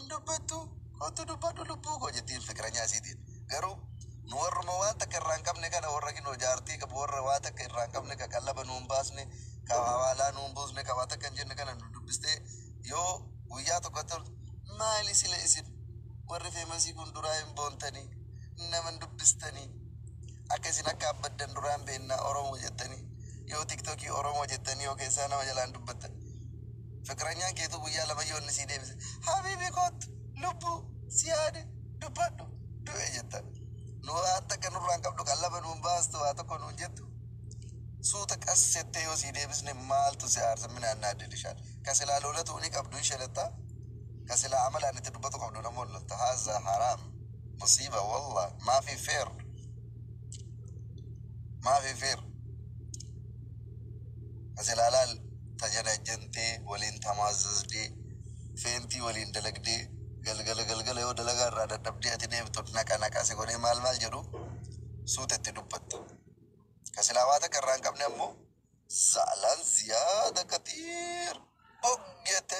Hin dubbattu kottu dubbadhu lubbuu koo jettiin fikiranyaa isiitiin. Garuu nu warruma waan takka irraa hin qabne kana warra kinoo jaartii qabu warra waa takka irraa hin qabne ka qallaba nu hin baasne ka hawaalaa nu hin buusne ka waa takka hin jenne kana nu dubbistee yoo guyyaa tokko atti toltu maali sila isin warri feemasii kun duraa hin boontanii nama hin dubbistanii Akka isin akka abbaddan duraan beenna oromo jettani yoo tiktoki oromo jettani yoo keessaa nama jalaan dubbattan fiqiranyaan keetuu guyyaa lama yoo inni sii deebise habibi koottu lubbu si yaade dubbadhu du'e jettan nu waan takka nurraan qabdu qallaba nuun baastu waa tokko nuun jettu suuta qas jettee yoo sii deebisne maaltu si aarsa minaan naa didishaan ka silaa loolatu ni qabdu hin shelatta ka silaa amalaan itti dubbatu qabdu nammoo lotta haazaa haraam Musiiba wallah maafi fair maafi fair majalaalaa tajanajjantee waliin tamaazzazde feentii waliin dalagdee galgala galgala yoo dalagaa irraa dadhabdee ati deemtu naqa naqa si godhee maal maal jedhu suuta itti dubbatta ka silaa waa takka irraa hin qabne ammoo zaalaan ziyaada katiir og jette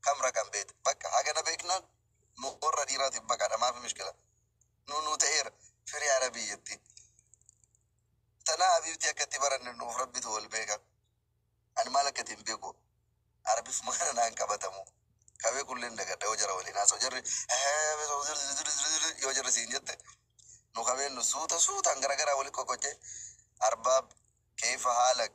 kam ragan beeta bakka hagana beknan nu orra dhiratif baqadha maafi mishkila nu nu ta'eera firi arabi jetti tana habibti akka itti baranne nuuf rabbitu wal beeka ani maal akka itti hin beeku arabif maana naan qabatamu kabee kulleen dagadha yoo jara waliin haasoo jarri yoo jarri siin jette nu kabeen nu suuta suutaan garagaraa wali qoqqochee arbaab keefa haalak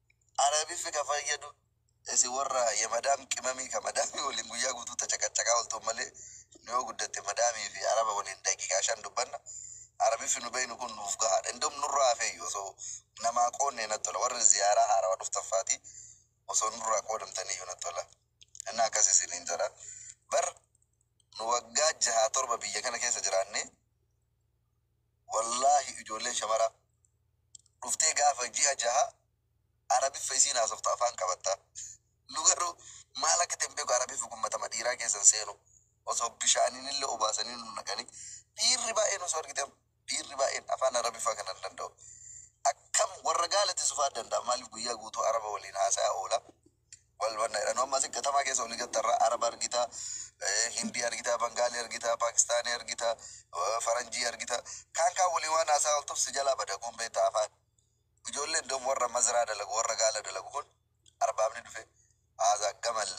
Arabifi ka fayyadu isi worra ye madam qimami ka madami wolin guyya gutu ta caqacaqaa oltu male nu yo guddatte madami fi araba wolin daqiqa shan dubbanna arabifi nu beynu kun nuf gahaadha indom nurra hafeyyu oso namaa qoonne nat tola worri ziyara harawa dhuftan fati oso nurra qoodamtaniyyu nat tola enna akkas isinin jedha bar nu wagga jaha torba biyya kana kessa jiraanne Wallaahi ijoolleen shamaraa dhuftee gaafa ji'a jaha arabiffa isiin haasoftu afaan qabatta nu garuu maal akka ta'e hin beeku arabiffi kun matama dhiiraa keessa hin seenu osoo bishaaninille obaasanii nu naqanii dhiirri baay'een osoo argite dhiirri baay'een afaan arabiffaa kana hin danda'u akkam warra gaalatti sufaa danda'a maaliif guyyaa guutuu araba waliin haasa'aa oola Wal banna jedha. Nu amma asi gatamaa keessa oli gatta irra Araba argita, eh, Hindii argita, Bangaalii argita, Paakistaanii argita, eh, Faranjii argita. Kaan kaan waliin waan haasaa oltuuf si jalaa bada kun beekta afaan. Ijoolleen dom warra mazraa dalagu, warra gaala dalagu kun arbaabni dhufe haasaa gamal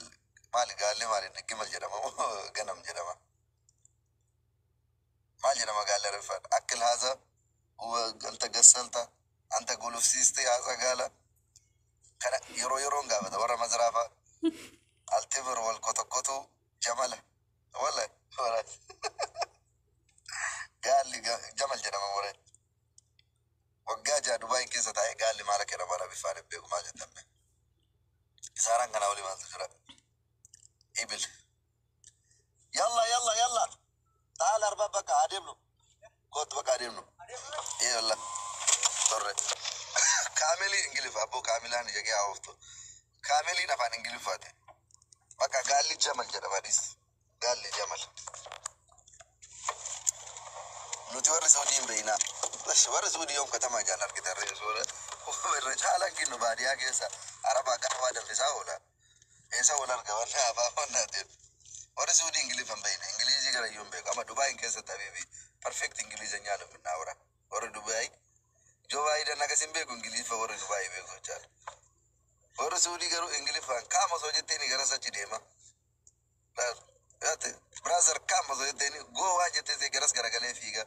maali gaalli maali inni gimal jedhama moo ganam jedhama. Maal jedha magaalli Arabiffaadha? Akkil haaza huwa galta gassalta anta gulufsiiste haaza gaala kana yeroo yeroon gaafata warra mazraafaa altibir wal kotokkotuu jamala wala wala gaalli ga- jamal jedhama warra waggaa jaha Dubaay keessa taa'ee gaalli maal akka jedhamu Arabiffaan hin beeku maal jedhamne isaaraan kanaa olii maaltu jira ibil Yalla yalla yalla. Taal arba bakka adeemnu. Kootu bakka adeemnu. Yalla. Torre. Kaamelii Ingiliffa abboo kaamilaan ija kee haawoftu. Kaameliin afaan Ingiliffaati. Bakka gaalli jamal jedhama dhiis. Gaalli jamal. Nuti warri Suudii hin beeknaa. Bas warri Suudii yoom katamaa jaan argitan reesuu. Irra caalaan kennu baadiyyaa keessa arabaa gaafaa danfisaa oola. Eessa wal arga warri haafaa wannaa deem. Warri suudii ingiliffa hin beekne ingiliizii gara iyyuu hin beeku. Amma Dubaayin keessatti habiibi perfect ingilizanyaa nu minnaa wara. Warri Dubaayi Joo Baayidan akkas hin beeku ingiliffa warri Dubaayi beeku jechaadha. Warri suudii garuu ingiliffaan kaam osoo jetteeni gara sachi deema. Laal. Yaate brother kaam osoo jetteeni goo waan jetteesee garas garagalee fiiga.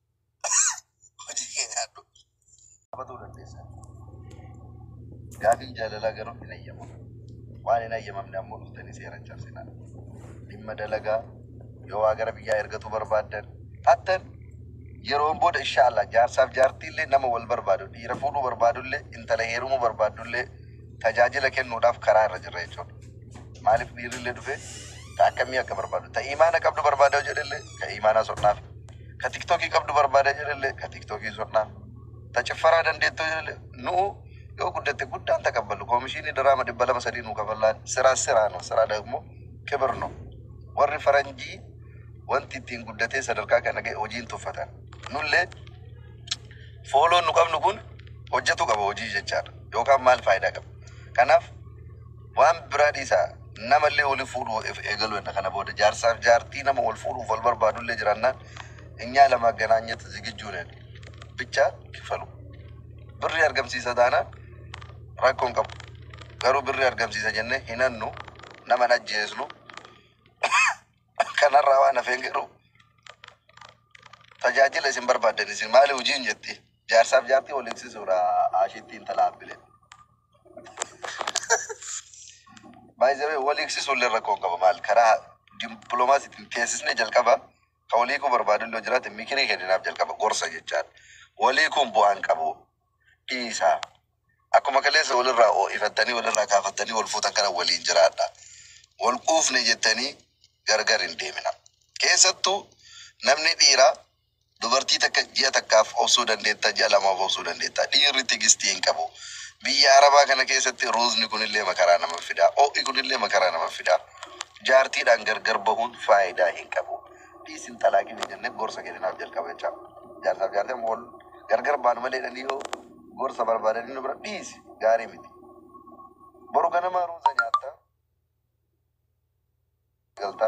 Hojii kee nyaadhu. Qabatuu dandeessa. Gaafiin jaalalaa garuu hin hayyamamu. Waan hin hayyamamne ammoo dhuftanii seera hin cabsinaa. Dhimma dalagaa yoo waa gara biyyaa ergatuu barbaaddan hattan yeroon booda inshaallah jaarsaaf jaartiillee nama wal barbaadu dhiira fuudhuu barbaadullee intala heerumuu barbaadullee tajaajila kennuudhaaf karaa irra jirra jechuudha. Maaliif dhiirrillee dhufee ta akkamii akka barbaadu ta imaana qabdu barbaada jedhellee ka imaanaa sodhaaf ka tiktokii qabdu barbaada jedhelle ka tiktokii sodhaa ta ciffaraa dandeettu jedhelle nu'u yoo guddatte guddaan taqabballu koomishiinii diraama dhibba lama sadii nuu kafallaan siraa siraa no siraa dagmo kibir no warri faranjii wanti ittiin guddatee sadarkaa kana ga'e hojiin tuffatan nullee fooloon nu qabnu kun hojjetu qaba hojii jechaadha yookaan maal faayidaa qaba kanaaf Waan biraa dhiisaa namallee wali fuudhu if eegaluu enna kana booda jaarsaaf jaartii nama wal fuudhuuf wal barbaadullee jiraannaan inyaa lamaaganaanyet zigijjuu nen bichaa kifalu birrii argamsiisa taanaan rakkoon qabu garuu birrii argamsiisa jennee hin hannu nama hin ajjeesnu kanarraa waan hafeen garuu tajaajila isin barbaaddan isin maali hojiin jetti jaarsaaf jaartii wal eegsisuudha ashiitti intala abbileen. Baay'ee wal hiiksisuun illee rakkoo hin qabu maal karaa dippiloomaasiitiin teessisnee jalqaba kan wal hiikuu barbaadu illee jiraate mikirii kenninaaf jalqaba gorsa jechaan wal hiikuun bu'aa hin qabu dhiisaa akkuma kaleessa walirraa oo'ifattanii walirraa kaafattanii wal fuutan kana waliin jiraadha wal quufne jettanii gargar hin deemina keessattuu namni dhiiraa Dubartii takka ji'a takkaaf obsuu dandeetta, ji'a lamaaf obsuu dandeetta. Dhiirri tigistii hin qabu. Biyya Arabaa kana keessatti ruuzni kunillee makaraa namaf fida. Oo'i kunillee makaraa namaf fida. Jaartiidhaan gargar bahuun faayidaa hin qabu. Dhiisi hin xalaaqin hin jenne gorsa kenninaaf jalqaba jecha. Jaarsaaf jaartii amma wal gargar baanu malee jedhanii yoo gorsa barbaadanii nu bira dhiisi gaarii miti. Boru ganama ruuza nyaatta. Galta.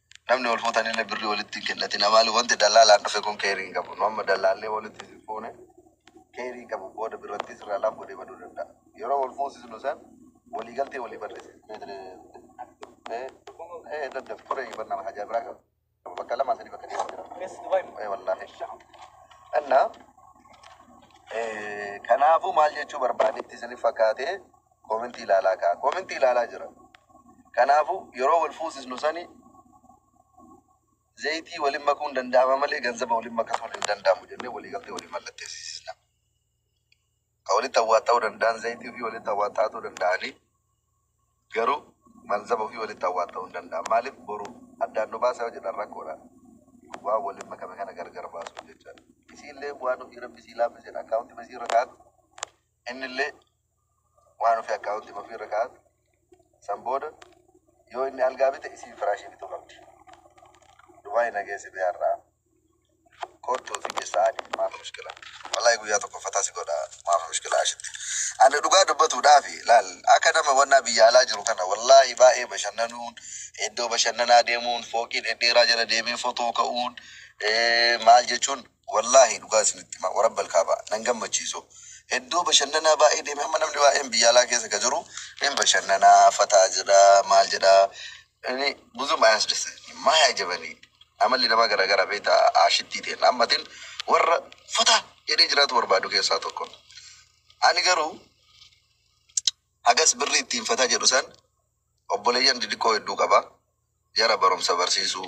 Namni wal fuutanille birri walitti hin kennatina maaliif wanti dallaalaan dhufe kun keyri hin qabu. Nu amma dallaallee walitti isin fuune keyri hin qabu booda birrattii sirraa laaf godhee baduu danda'a. Yeroo wal fuusisnu san walii galtee walii barreessina. Meetri ee ee daddaf turee hin barnama hajaa biraa qaba. Bakka lamaa sadii bakka deemu jira. Keessa Dubai ee wallaahi. Anna ee kanaafuu maal jechuu barbaadetti isinif fakkaatee Comment ilaalaa kaa. Comment ilaalaa jira. Kanaafu yeroo wal fuusisnu sani zayitii walin makuun danda'ama malee ganzaba walin makasuun hin danda'amu jennee walii galtee walii mallatteessisna. Ka walitti awwaaxxa'uu danda'an zayitii ofii walitti awwaaxxa'atuu danda'anii garuu malzaba ofii walitti awwaaxxa'uu hin danda'an. Maaliif boru addaan nu baasa yoo jedhan rakkoodha. Waan walin makame kana gargar baasuuf jecha. Isiillee waan ofii rabbi sii laaffiseedha. Akkaawuntii basii irra kaa'atu Innillee waan ufii akkaawuntiima ufii irra kaa'atu, san booda yoo inni algaa bite isiin firaashii bituu qabdi. Dubai na geessi bee har'aa. Koottuu si geessa ani maaf mushkila. Wallahi guyyaa tokko fataa si godha maaf mushkila ashitti. Ani dhugaa dubbatuudhaafi laal akka nama wannaa biyya alaa jiru kana wallahi baay'ee bashannanuun iddoo bashannanaa deemuun fooqii dhedheeraa jala deemee fotoo ka'uun maal jechuun Wallaahi dhugaa isinitti himaa warabbal kaabaa nan gammachiisu iddoo bashannanaa baay'ee deeme amma namni baay'een biyya alaa keessa ka jiru hin bashannanaa fataa jedha maal jedha inni buzum ayasdessani maaya jabani amalli namaa garagara beeta aashittii teenna ammatin warra fataa jedhee jiraatu barbaadu keessaa tokko ani garuu hagas birri ittiin fataa jedhu san obboleeyyan didiqqoo hedduu qaba jara barumsa barsiisuu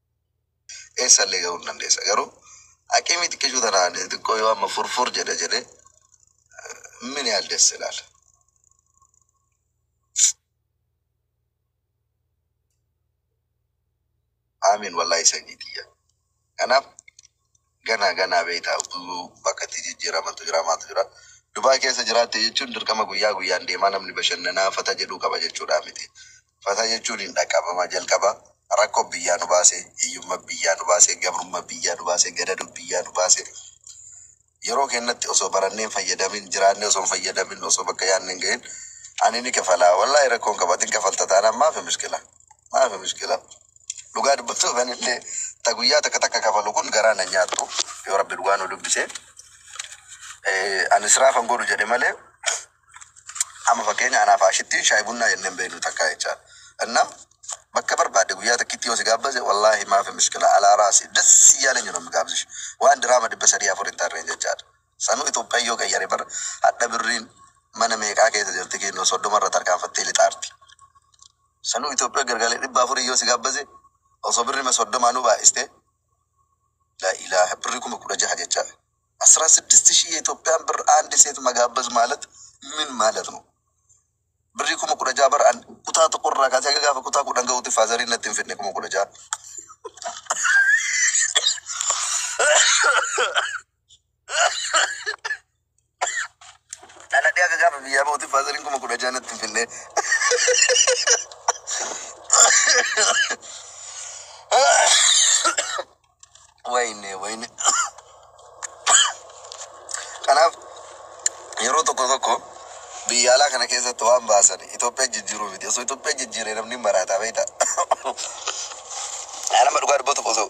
eessa illee gahuu hin dandeessa garuu aqimii xiqqishuu tanaan xiqqoo yoo amma furfur jedhe jedhe min yaal desse ilaala. Aamiin wallahi sanyii tiyya. Kanaaf Ganaa ganaa beekta utuu bakka itti jijjiiramantu jira maaltu jira. Dubaay keessa jiraatte jechuun dirqama guyyaa guyyaan deemaa namni bashannanaa fata jedhuu qaba jechuudhaa miti. Fata jechuun hin dhaqqabama jalqaba rakko biyyaa nu baase, hiyyumma biyyaa nu baase, gabrumma biyyaa nu baase, gadadu biyyaa nu baase. Yeroo keennatti osoo barannee hin fayyadamin, jiraannee osoo hin fayyadamin, osoo bakka yaadne hin gahin ani ni kafalaa. Wallaahi rakkoon qaba ati hin kafalta taanaan maafi mishkilaa. Maafi mushkila. Dhugaa dubbachuuf anillee ta guyyaa takka takka kafalu kun garaa na nyaattu yoo rabbi dhugaa nu dubbise eh, ani israaf hin godhu jedhe malee amma fakkeenya anaaf ashittiin shaayii bunnaa jennee hin beeknu takkaa jechaa inna bakka barbaadde guyyaa takkitti yoo si gaabbase wallaahi maafi mushkila alaa raasi das iyyaalin jedhu mi gaabsish waan diraama dhibba sadii afur hin tarreen jechaadha. Sanuu itophiyan yoo qayyare bar hadha birriin mana meeqaa keessa jirti kiillo soddoma irra tarkaanfattee lixaarti sanuu itophiya gargale dhibba afurii yoo si gaabbase osoo birrima soddoma nu baay'iste laa ilaaha birri kuma kudha jaha jecha asraa siddist shii itophiyan bir aandi seet magaabbaz maalat min maalat nu birrii kuma kudha jaha bar an kutaa tokko irraa kaasee haga gaafa kutaa kudhan ga'uutti faazariin natti hin fidne kuma kudha jaha Dhaladhee akka gaafa biyyaa ba'uutti faasariin kuma kudha ja'a natti finnee. Wayne wayne. Kanaaf yeroo tokko tokko biyya alaa kana keessatti waan baasan Itoophiyaa jijjiiruu miti. Osoo Itoophiyaa jijjiiree namni maraataa beektaa. Nama dhugaa dubbatu osoo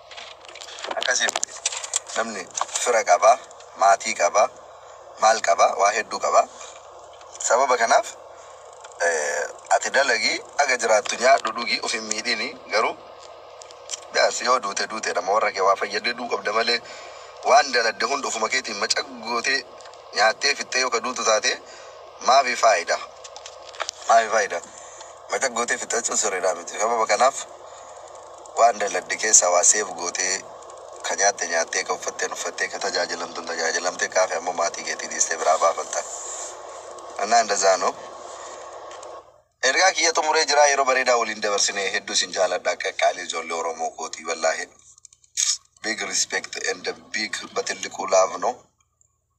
Akkasi miti namni fira qaba maatii qaba maal qaba waa hedduu qaba sababa kanaaf ati dalagi haga jiraattu nyaadhu dhugi of hin miidhini garuu biyaansi yoo duute duuteedha ma warra kee waa fayyadde duu qabda malee waan daladde hunda ofuma keetiin macaq gootee nyaattee fixxee yoo ka duutu taate maafi faayida maafi faayida macaq gootee fixxachuun sirriidhaa miti sababa kanaaf Waan dalagde keessaa waa save gootee, ka nyaatte nyaattee, ka uffatteen uffattee, ka tajaajilamtuun tajaajilamtee, ka hafe ammoo maatii keetii dhiistee biraa baafatta. Annaa indazaa no. Ergaa kiyya xumuree jiraa yeroo bareedaa waliin dabarsine hedduu isin jaaladha qaqqaalii ijoollee oromoo kootii wallaahi big respect and big batilliquu love no.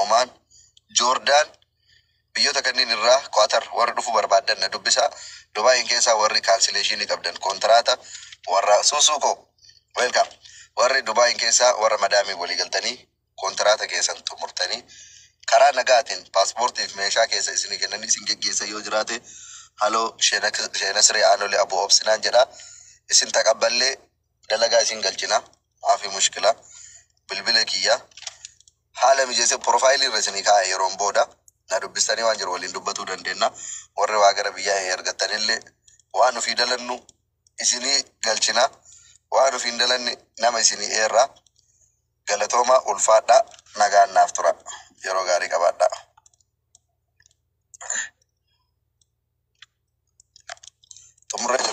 Omaan, Joordaan, biyyoota kanneen irraa, Quatar, warri dhufuu barbaaddan na dubbisaa, Dubaayiin keessaa warri kaansileeshiinii qabdan kontiraata warra Suusuu koo Welcome! Warri Dubaayiin keessaa warra madaamiin walii galtanii kontiraata keessan xumurtanii karaa nagaatiin paaspoortii fi meeshaa keessan isinii kennanii isin geggeessan yoo jiraate haloo Shee Nasree Aanolee Abuu Obsinaan jedhaa isin taqabballee dalagaa isin galchina maafii mushkilaa bilbila kiyya Haala mijeessee profile irra isinii kaa'a yeroon booda na dubbistanii waan jiru waliin dubbatuu dandeenna. Warri waa gara biyyaa ee argattanillee waan ofii dalannu isinii galchina. Waan ofii hin dalanne nama isinii eerra. Galatoomaa ulfaadhaa nagaan naaf tura. Yeroo gaarii qabaadhaa. Xumurree jirra.